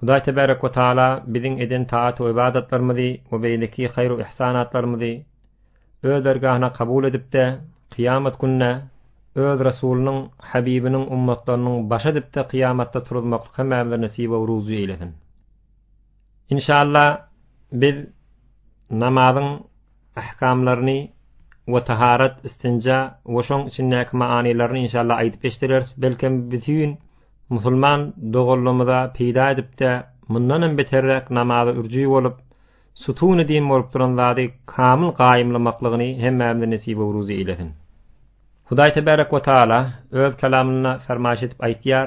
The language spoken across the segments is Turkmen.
Hudaý tebärek we taala biziň eden taat we ybadatlarymyzy we beýleki haýru yhsanatlarymyzy Öz dergahyna kabul edip-de, kyýamat gününe Öz Resulynyň, Habibiniň, ummatlarynyň başy edip-de kyýamatda turuzmaklyk hemmämize nesip we ruzy eýlesin. Inşalla, biz namazyň ähkamlaryny we taharat, istinja we şoň içindäki manylaryny inşallah aýdyp geçdireris. Belkem bütin musulman doganlarymyza peýda edip-de, mundan hem beterräk namaza ürji bolup, sütun-i din bolup duran zady kamyl gaýymlamaklygyny hemmämize nesip-u-ruzy eýlesin. Hudaý tebärek we taala Öz Kelamynda fermaýyş edip aýtýar,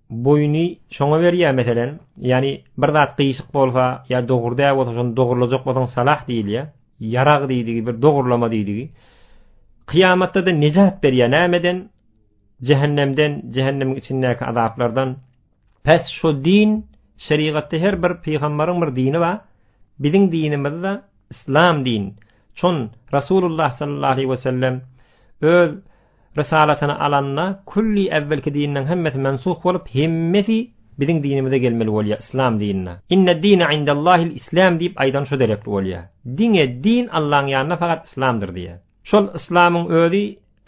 boýuny şoňa berýär meselem, ýani bir zat gyýyşyk bolsa ýa dogry däl bolsa şony dogurlajak bolsaň salah diýilýär. Ýarag diýdigi bir dogurlama diýdigi. Kyýamatda-da nejat berýär nämeden? Jähennemden, jähennemiň içindäki azaplardan. Pes şu din, şerigatda her bir pygamberiň bir dini bar. Biziň dinimizde islam din. Çon Rasulullah sallallahu aleyhi we sellem öz Rysalasyny alanda külli äwwelki dinleň hemmesi mensuh bolup hemmesi biziň dinimize gelmeli bolýa islam dinine. Inne dine indellahil islam diýip aýdan şu derekli bolýa. Diňe din Allaň ýanynda fakat islamdyr diýä. Şol islamyň özi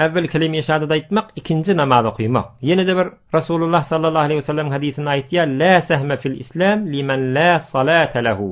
äwwel kelime-i şahadat aýtmak ikinji namaz okymak. Ýenede bir Rasulullah sallallahu aleýhi we sellem hadisinde aýtýa lä sehme fil islam limen lä salate lehu.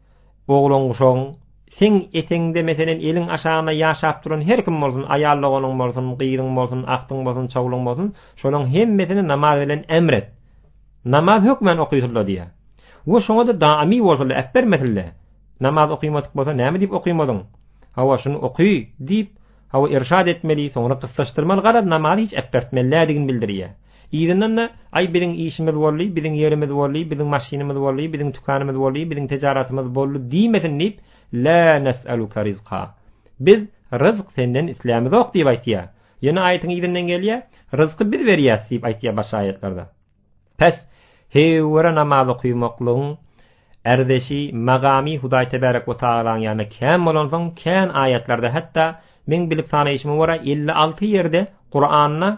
Oglan-guşagyň, seň etegiňde, meselem, eliň aşagynda ýaşap duran her kim bolsun, aýal doganyň bolsun, gyzyň bolsun, agtyň bolsun, çowlugyň bolsun, şolaryň hemmesini namaz bilen emr et. Namaz hökmän okysyl-la diýýär. We şoňa-da daimy bolsun-la, äpbermesin-le. Namaz okymadyk bolsa, näme diýip okymadyň? Hawa, şuny oky! diýip, hawa, irşad etmeli, soňra gyssaşdyrmaly, garaz, namazy hiç äpbertmeli-lädigini bildirýär. Yzyndan-da, Aý, biziň işimiz boldy, biziň ýerimiz boldy, biziň maşynymyz boldy, biziň tükanymyz boldy, biziň tejaratymyz boldy diýmesin diýip, Lä nes'aluke rizqa, Biz ryzk senden islämizok diýip aýtýar. Ýöne aýatyň yzyndan gelýär, Ryzky biz berýäs diýip aýtýar başga aýatlarda. Pes, heýwere namaz okymaklygyň erzeşi, magamy Hudaý tebärek we tagalaň ýanynda kän bolansoň, kän aýatlarda, hatda, meň bilip sanaýşyma görä, elli alty ýerde Kuranda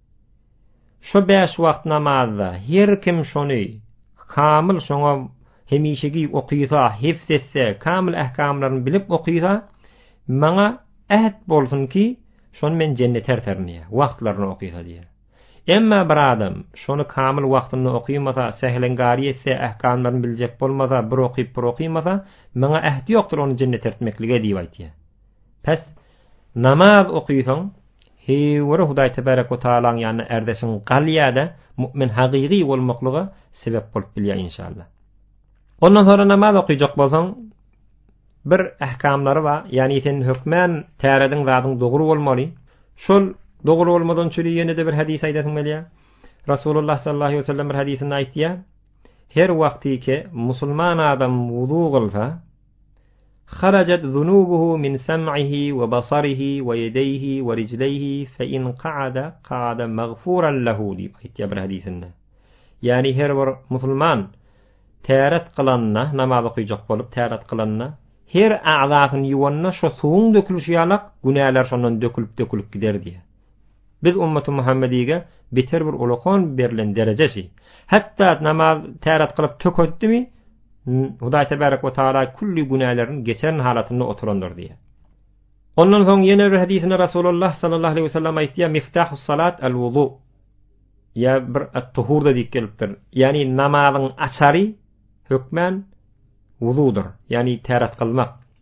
Şu bäş wagt namazda her kim şony kamyl şoňa hemişeki okysa, hifz etse, kamyl ähkamlaryny bilip okysa, maňa äht bolsun ki, şony men jennete erterin diýýär, wagtlaryna okysa diýýär. Emma bir adam şony kamyl wagtynda okymasa, säheleňkary etse, ähkamlaryny biljek bolmasa, bir okyp, bir okymasa, maňa ähti ýokdur ony jennete ertmeklige diýip aýtýar. Pes, namaz okysaň, heýwere Hudaý Tebarek we Tagalaň ýanynda ärdeşiň galýar-da, mu'min hagygy bolmaklyga sebäp bolup bilýär, inşallah. Ondan soňra namaz okyjak bolsaň, bir ähkamlary bar, ýagny sen hökmän tärediň zadyň dogry bolmaly. Şol dogry bolmadan çüri ýene-de bir hadys aýdasyň gelýär. Rasulullah sallallahu aleýhi we sellem bir hadysynda aýtýar, Her wagtyky musulman adam wuzu kylsa, Harajat zunubuhu min sam'ihi we basarihi we ýedeýhi we rijleýhi fe in ka'ada ka'ada magfuran lehu diýip aýtýar bir hadysynda. Ýagny her bir musulman täret kylanda, namaz okyjak bolup täret kylanda, her agzasyny ýuwanda şo suwuň dökülişi ýalak günäler şondan dökülip dökülip gider diýýär. Biz ümmaty Muhammedige beter bir ulakan berlen dereje şi. Hatda namaz täret kylyp tökezdimi, Hudaý tebarek we taala külli günälerini geçeren halatynda oturandyr diýýär. Ondan soň ýene bir hadisinde Rasulullah sallallahu aleyhi we sellem aýtýar, Miftahus salat al wudu. Ýa bir at-tuhurda diýip gelipdir. Ýani namazyň açary hökmän wududyr. Ýani täret kylmak.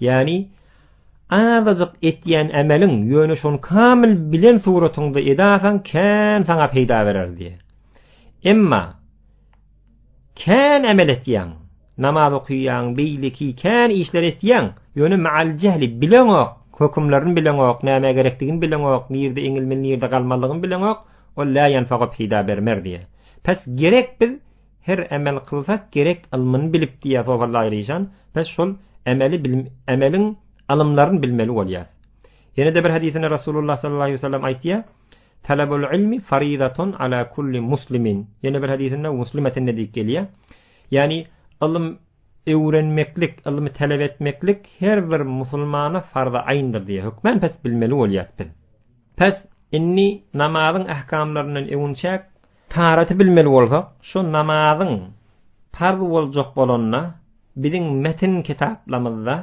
Ýagny, azajyk etýän ämeliň, ýöne şony kamyl bilen suratyňda edasaň kän saňa peýda berer diýýär. Emma, kän ämel etýäň, namaz okýaň, beýleki kän işleri etýäň, ýöne ma'al jehli, bileňok, hökümlerini bileňok, nämä gerekdigini bileňok, nirde eňilmeli, nirde galmalydygyny bileňok, ol lä ýanfa'ga peýda bermer diýýär. Pes, gerek biz, Her emel kylsak gerek ylmyny bilip diýýär Sofar Zaýryjan. Biz şol emeli bilim emeliň ylymlaryny bilmeli bolýas. Ýene-de bir hadysynda Rasulullah sallallahu aleýhi wesellem aýtýar, Talabul ylmi faridatun ala kulli muslimin. Ýene bir hadysynda Muslimetinde diýip gelýär. Ýagny ylym öwrenmeklik, ylmy talap etmeklik her bir musulmana farza aýndyr diýýär. Hökman pes bilmeli bolýas biz. Pes indi namazyň ähkamlaryndan öwünçäk Taharaty bilmeli bolsak, şu namazyň parz boljak bolanda, biziň metin kitaplamyzda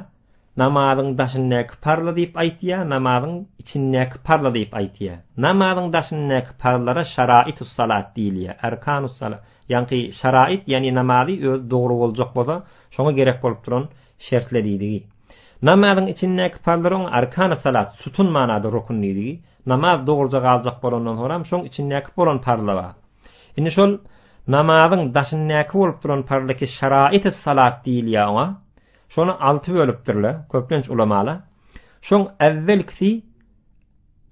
namazyň daşyndaky parzly diýip aýtýar, namazyň içindäki parzly diýip aýtýar. Namazyň daşyndaky parzlara şaraitüs-salat diýilýär, erkanus-salat. Ýaňky şarait, ýagny namazy özi dogry boljak bolsa, şoňa gerek bolup duran şertler diýdigi. Namazyň içindäki parzlara oň erkanus-salat, sütun manada rukun diýdigi. Namaz dogruja galjak bolandan soňam şoň içindäki bolan parzlar bar. Indi şol namazyň daşyndaky bolup duran parzlar ki şaraity salat diýilýär oňa. Şony alty bölüpdirler, köplenç ulamalar. Şoň äwwelkisi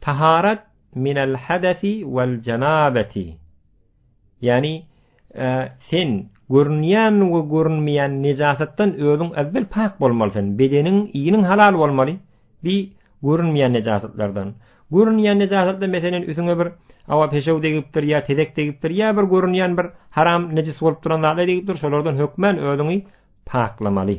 taharat minel hadesi wel janabeti. Ýagny, sen görünýän we görünmeýän nejasatdan özüň äwwel pak bolmaly sen, bedeniň, iniň halal bolmaly, bi görünmeýän nejasatlardan. Görünýän nejasatdan meselen üsüňe bir awa peşew degipdir ýa tezek degipdir ýa bir görünýän bir haram nejis bolup duran zatlar degipdir, şolardan hökmän özüňi paklamaly.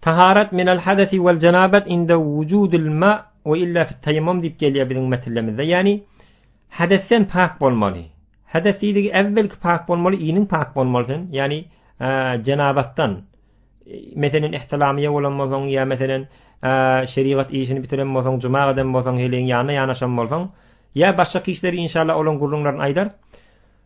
Taharat minel hadesi vel cenabet inde vücudil ma ve illa fit tayammum diyip gelýär biziň metillemizde. Yani hadesden pak bolmaly. Hades diýdigi äwwelki pak bolmaly, iniň pak bolmaly sen. Yani e, cenabetden. E, meselen ihtilamiye bolan bolsaň ya meselen e, şerigat işini bitiren bolsaň, cuma gadan bolsaň, heleň ýanyna ýanaşan bolsaň, ya başga kişileri inşallah olaň gürrüňlerini aýdar.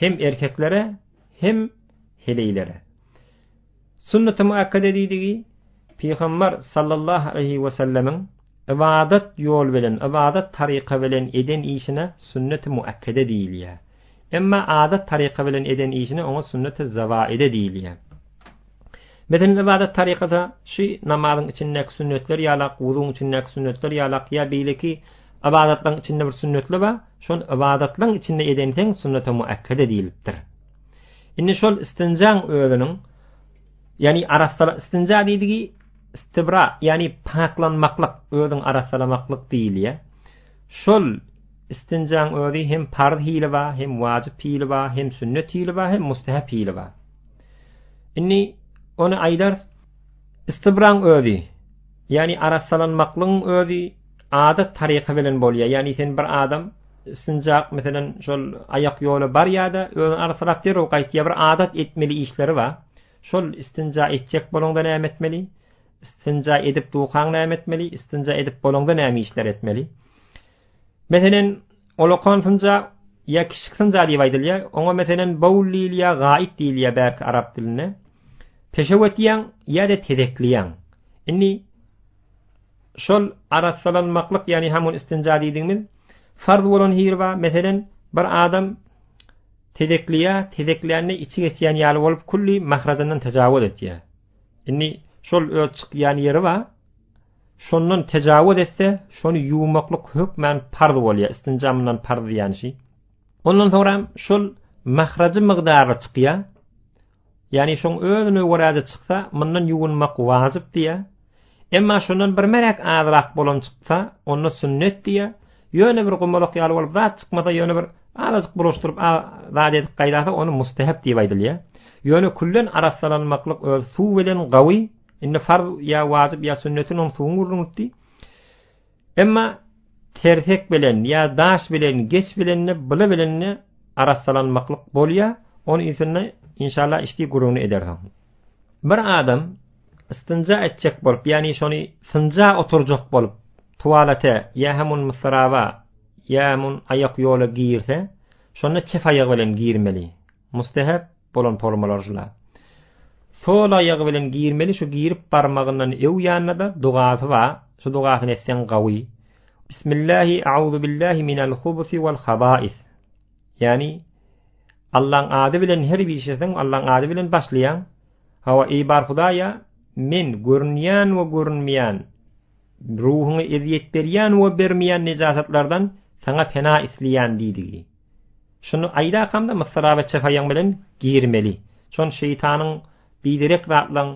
Hem erkeklere, hem heleýlere. Sunnaty muakkede diýdigi, Pygambar sallallahu aleýhi we sellemiň ybadat ýol bilen, ybadat taryka bilen eden işine sunnaty muakkede diýilýär. Emma adat taryka bilen eden işine oňa sunnaty zawaide diýilýär. Biziň ybadat tarykada şy namazyň içindäki sünnetler ýalak, wuzuň içindäki sünnetler ýalak ýa beýleki ybadatlaryň içinde bir sünnetli bar, şon ybadatlaň içinde edenseň sünnete muakkede diýilipdir. Indi şol istinjaň özüniň ýani arassala istinja diýdigi istibra ýani paklanmaklyk özüň arassalamaklyk diýilýä. Şol istinjaň özi hem parz hili bar, hem wajyp hili bar, hem sünnet hili bar, hem mustahap hili bar. Indi ony aýdar istibraň özi, ýagny arassalanmaklygyň özi adat taryka bilen bolýar. Ýagny sen bir adam istinjak meselem şol aýak ýola barýar-da, özüni arassalap derrew gaýtýar. Bir adat etmeli işleri bar. Şol istinja etjek bolanda näme etmeli? Istinja edip dukaň näme etmeli? Istinja edip bolanda näme işler etmeli? Meselen, olakan synja ýa kiçik synja diýip aýdylýar. Oňa meselen baul diýilýär, gaýyk diýilýär bärki arap dilinde. Peşewetýäň ýa-da tezekliýäň. Indi şol arassalanmaklyk, ýagny hamun istinja diýdigimiz farz bolan hili bar. Meselen, bir adam tezekliýär, tezeklände içi geçýän ýaly bolup, külli mahrajyndan tajawuz etýär. Indi şol öz çykýan ýeri bar. Şondan tejawuz etse, şony ýuwmaklyk hökmän parz bolýar, istinja mundan parz diýýän şi. Ondan soňra şol mahrajy mygdarly çykýar. Ýagny şoň özüne göräje çyksa, mundan ýuwunmak wajyp diýýär. Emma şondan bir merek azrak bolan çyksa, onda sünnet diýýär. Ýöne bir gumalak ýaly bolup zat çykmasa, ýöne bir azajyk bulaşdyryp zat edip gaýdasa, ony mustahap diýip aýdylýar. Ýöne küllen arassalanmaklyk öz suw bilen gawy Indi farz ýa wajyp ýa sünnetini oň suwuň gürrüň etdi. Emma tersek bilen ýa daş bilen geç bilen bile bilen arassalanmaklyk bolýa, ony ýüzünde inşallah işdi gürrüňini ederis oň. Bir adam istinja etjek bolup, ýagny şony synja oturjak bolup, tuwalete ýa hem on mysrawa ýa hem on aýak ýola girse, şonda çep aýagy bilen girmeli. Mustehep bolan formalar şula. Sol aýagy bilen girmeli şu girip barmagyndan öw ýanynada dugasy ba, şu dugasyny etseň gawy. Bismillahi Auzubillahi minal hubusi wal habais. Ýani Allaň ady bilen her bir işeseň Allaň ady bilen başlaýaň. Hawa eý bar Hudaýa men görünýän we görünmeýän ruhuňy eziýet berýän we bermeýän nejasatlardan saňa pena isleýän diýdigi. Şuny aýdarkam-da Mysra we Çefaýyň bilen girmeli. Şon şeýtanyň biderek zatlaň,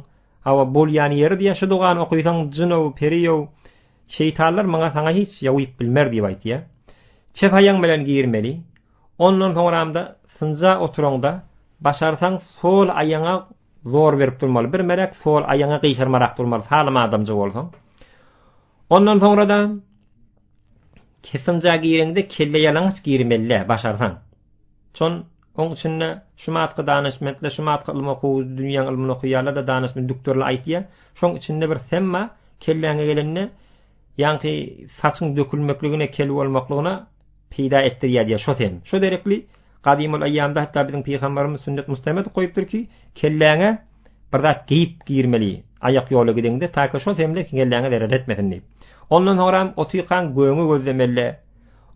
hawa, bolýan ýeri diýýär, şu dogany okaýsaň jyn-ow, peri-ow, şeýtanlar maňa saňa hiç ýawyp bilmer diýip aýtýar. Çefaýyň bilen girmeli. Ondan soňram-da synja oturaňda, başarsaň sol aýaňa zor berip durmaly. Bir melek sol aýaňy gyşarmarak durmaly, salym adamja bolsaň. Ondan soňra-da Kessinja gireňde kelle ýalaňaç girmelidä başarsaň. Çon oň içinde şumatky danyşmentler şumatky ylym okuwy dünýäň ylmyny okuýarlarda danyşment dükdürli aýtýa. Şoň içinde bir semma kelläňe gelende ýaňky saçyň dökülmekligine kel bolmaklygyna peýda etdirýär diýýär şo sem. Şo derekli Gadymyl eýýamda hatda biziň pygambarymyz sünnet mustamed goýupdyr ki, kelläňe bir zat geýip girmeli, aýak ýola gideňde, taýka şo hemle kelläňe zerer etmesin diýip. Ondan soňram otykan göňi gözlemeli-le,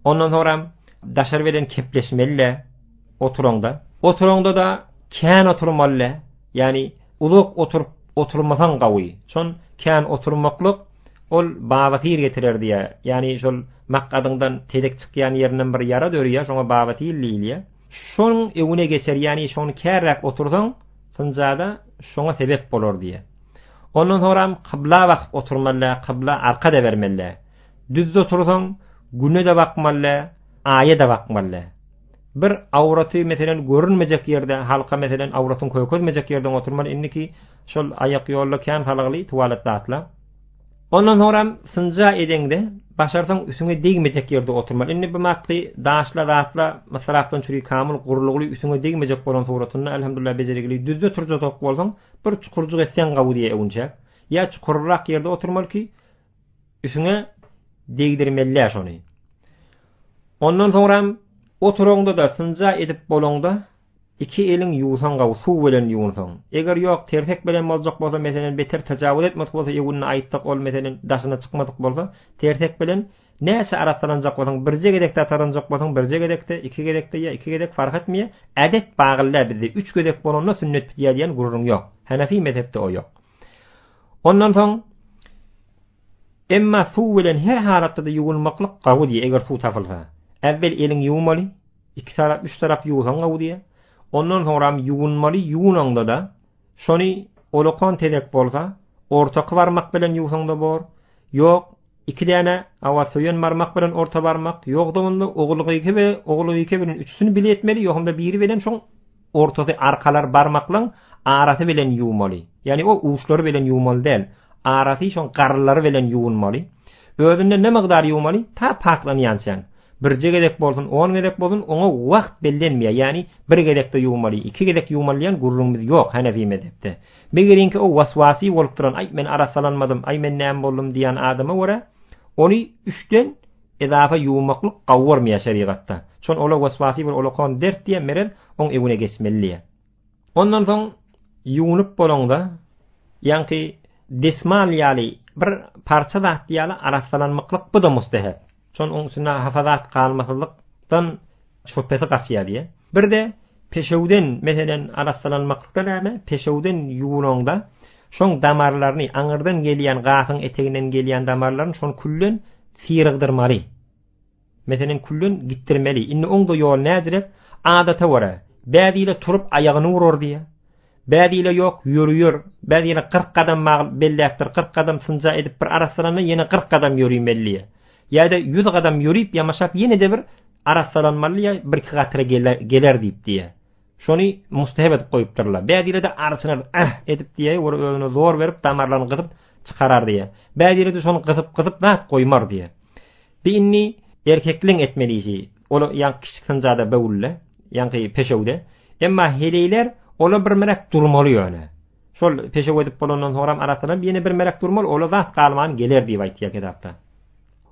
ondan soňram daşary beden kepleşmeli-le oturaňda. Oturaňda-da kän oturmaly-le. Ýani uzak oturyp oturmasaň gawy. Şon kän oturmaklyk ol babasyr getirer diýýär. Ýani şol makadyňdan tezek çykýan ýerinden bir ýara dörýär, şoňa babasyr diýilýär. Şoň öňüne geçer, ýani şony kärräk otursaň, synjada şoňa sebep bolar diýýär. Ondan soňram kybla bakyp oturmaly, kybla arka-da bermeli. Düz otursaň, güne-de bakmaly, aýa-da bakmaly. bir awraty meselen görünmejek ýerde halka meselen awratyň kökezmejek ýerden oturmaly indiki şol aýak ýolda kän salagly tualet zatla Ondan soňra synja edeňde başarsaň üsüňe degmejek ýerde oturmaly. Indi bu matky daşla zatla mysrapdan çüri kamyl gurlugly üsüňe degmejek bolan suratynda elhamdulillah bejergili düzde turjak bolsaň bir çukurjyk etseň gawy diýe öwünçäk. Ýa çukurrak ýerde oturmaly ki Üsüňe degdirmelä şony. Ondan soňram oturaňda-da synja edip bolaňda, iki eliň ýuwsaň gawy, suw bilen ýuwunsaň. Eger ýok, tersek bilen boljak bolsa, meselem, beter tajawuz etmedik bolsa, ýuwundy aýtsak, ol, meselem, daşyna çykmadyk bolsa, tersek bilen näçe arassalanjak bolsaň, birje gezekde ataranjak bolsaň, birje gezekde, iki gezekde ýa iki gezek, fark etmeýär. Ädet bagyllä bizde üç gezek bolanda sünnet bitýär diýen gürrüň ýok. Henefi mezhepde o ýok. Ondan soň Emma suw bilen her halatda-da ýuwunmaklyk gawy diýýär, eger suw tapylsa. Äwwel eliňi ýuwmaly, iki tarap, üç tarap ýuwsaň gawy diýýär. Ondan soňram ýuwunmaly, ýuwunaňda-da şony olakan tezek bolsa, ortaky barmak bilen ýuwsaň-da bor, ýok, Iki däne awasöýen barmak bilen orta barmak, ýogdagynda ogulgyky we ogulgyky bilen üçüsini bile etmeli, ýogynda biri bilen şoň ortasy arkalar barmaklaň arasy bilen ýuwmaly. Ýagny o uçlary bilen ýuwmaly däl, arasy şoň garylary bilen ýuwunmaly. Özünde ne mygdar ýuwmaly, ta paklanýançaň. Birje gezek bolsun, on gezek bolsun, oňa wagt bellenmeýär, ýagny bir gezekde ýuwmaly, iki gezek ýuwmaly diýen gürrüňimiz ýok Hanefi mezhepde. Megeriňki o waswasy bolup duran aý men arassalanmadym, aý men näme boldum diýýän adama görä, ony üçden edafa ýuwmaklyk gauormaýar şerigatda. Şon ola waswasy bir olakan dert diýýär Merel, oň ewine geçmeli diýýär. Ondan soň ýuwnup bolaňda, ýaňky desmal ýaly bir parça zat diýýärler arassalanmyklyk bu-da mustehep. Şon oň üstünde hafa zat galmasyzlykdan Çöpesi gaçýar diýýär. Bir-de peşewden, meselem, arassalanmaklyk-da näme, peşewden ýuwnaňda, şoň damarlaryny, aňyrdan gelýän, gafyň eteginden gelýän damarlaryny şony külden syrygdyrmaly. Meselem, külden gitdirmeli. Indi oň-da ýoly näzirek, adata görä, bäzile turup aýagyny urar diýýär. Bäz ile ýok, ýöri ýör. Bäz ýene kyrk gadam mal belläpdir, kyrk gadam synja edip bir arassalanda ýene kyrk gadam ýörimelliýä. Ýa-da ýüz gadam ýörip ýamaşap ýene-de bir arassalanmallyýa, birki gatyra geler diýip diýä. Şony mustahep edip goýupdyrlar. Bäz ile-de arçynar, Äh! edip diýä, ýöri özüne zor berip damarlaryny gysyp çykarar diýä. Bäz ile-de şony gysyp-gysyp zat goýmar diýä. Bi inni erkekliň etmeli işi, ol ýaňky kiçi synjada böwülde, ýaňky peşewde. Emma heleýler ola bir märek durmaly ýöne. Şol peşew edip bolandan soňram arassalanyp ýene bir märek durmaly, ola zat galman geler diýip aýtýar kitapda.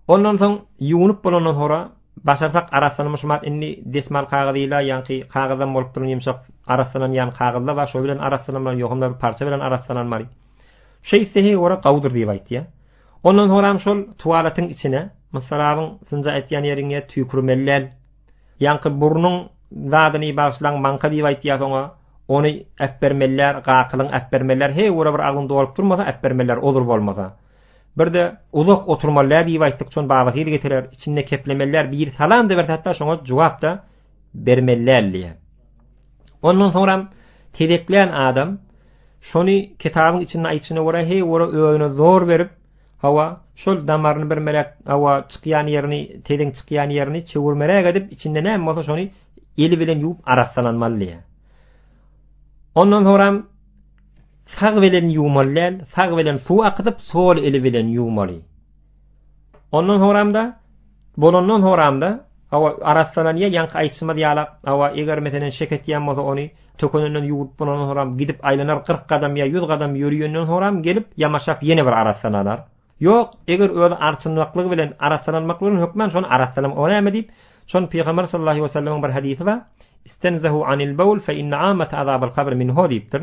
Ondan soň ýuwunyp bolandan soňra başarsak arassalanypyşmat inni desmal kagyzy ýyla ýaňky kagyzam bolup duran ýumşak arassalanýan kagyzda bar şo bilen arassalanmaly ýokumda bir parça bilen arassalanmaly. Şeýtsehi ora gowudyr diýip aýtýar. Ondan soňram şol tuwaletiň içine, Mysrabyň synja aýtýan ýeriňe tüýkürmelidäl. Ýaňky burnuň zadyny bagyşlaň maňka diýip aýtýas oňa, ony äpbermelidäl, gakylyň äpbermelidäl, heý ora bir agzyň dolup durmasa äpbermelidäl ozur bolmasa. Birde uzak oturmalidäl diýip aýtdyk şon baba hili getirer, içinde keplemelider, biri salam-da berse hatda şoňa jogap-da, bermelläl diýýär. Ondan soňram tezeklän adam şony kitabyň içinde aýtşyna görä he ora özüne zor berip, hawa, şol damaryny bir melek hawa çykýan ýerini, teziň çykýan ýerini çöwürmeräk edip, içinde näme bolsa şony eli bilen ýuwup arassalanmaly diýýär. Ondan soňram sag bilen ýuwmaly däl, sag bilen suw akydyp, sol eli bilen ýuwmaly. Ondan soramda, bolandan soramda, awa arassalan ýa ýaňky aýtşymyz ýala, awa eger meselen şek etýän bolsa ony tökenenden ýuwup bolandan soram gidip aýlanar 40 gadam ýa 100 gadam ýöriýenden soram gelip ýamaşap ýene bir arassalanar. Ýok, eger özi arçynmaklygy bilen arassalanmak bilen hökman şony arassalam o näme diýip, şon pygamber sallallahu aleyhi we sellemiň bir hadysy bar. Istenzehu anil bawl fe inne amata azabal kabr minhu diýipdir.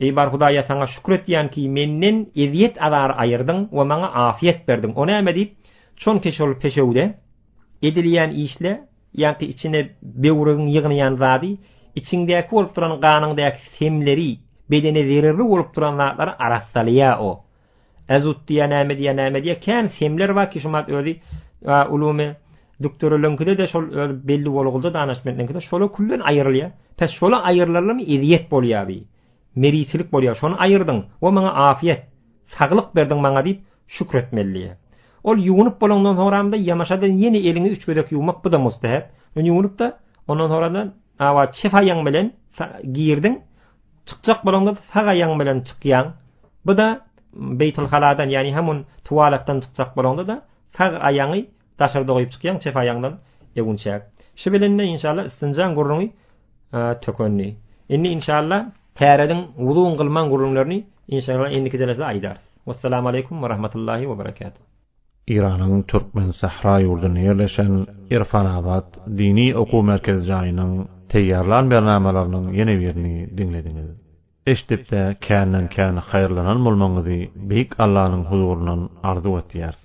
Eý, bar Hudaýa saňa şükür etýän ki, menden ezýet-azar aýyrdyň we maňa afiýet berdiň. O näme diýip, çonki şol peşewde, edilýän işle, ýaňky içine böwregiň ýygnaýan zady, içiňdäki bolup duran ganyňdaky semleri, bedene zererli bolup duran zatlary arassalaýar o. Azut diýýä näme diýýä näme diýýä kän semler bar ki şumat özi ulumy dükdürülünkide-de şol öz belli bolgulda danaşmentlinkide şola küllen aýyrylýa pes şola aýyrlarlamy ezýet bolýa bi meriçilik bolýa şony aýyrdyň wo maňa afýet saglyk berdiň maňa diýip şükr etmelidýä ol ýuwunyp bolandan soňramda ýamaşadan ýene eliňi üç gezek ýuwmak bu da mustehep ýuwunypda ondan soňradan awa çefaýaň bilen girdiň Çykjak bolaňda sag aýagyň bilen çykýaň. Bu-da beýtilhaladan, ýagny hamun tuwalatdan çykjak bolaňda-da sag aýagyňy daşarda goýup çykýaň, çep aýagyňdan öwünçäk. Şu bilen-de inşallah istinjaň gürrüňi tökendi. Indi inşallah tärediň wuzuň kylmaň gürrüňlerini inşallah indiki jelesde aýdarys. Wessalamaleýkum we rahmatullahi we berekatuh. Eýranyň Türkmensähra ýurdunda ýerleşen Irfanabat dini okuw merkezi jaýynyň taýýarlan bernamalarynyň ýene birini diňlediňiz. Eşdip-de känden-kän haýyrlanan bolmagyňyzy Beýik Allanyň huzuryndan arzuw etýäris.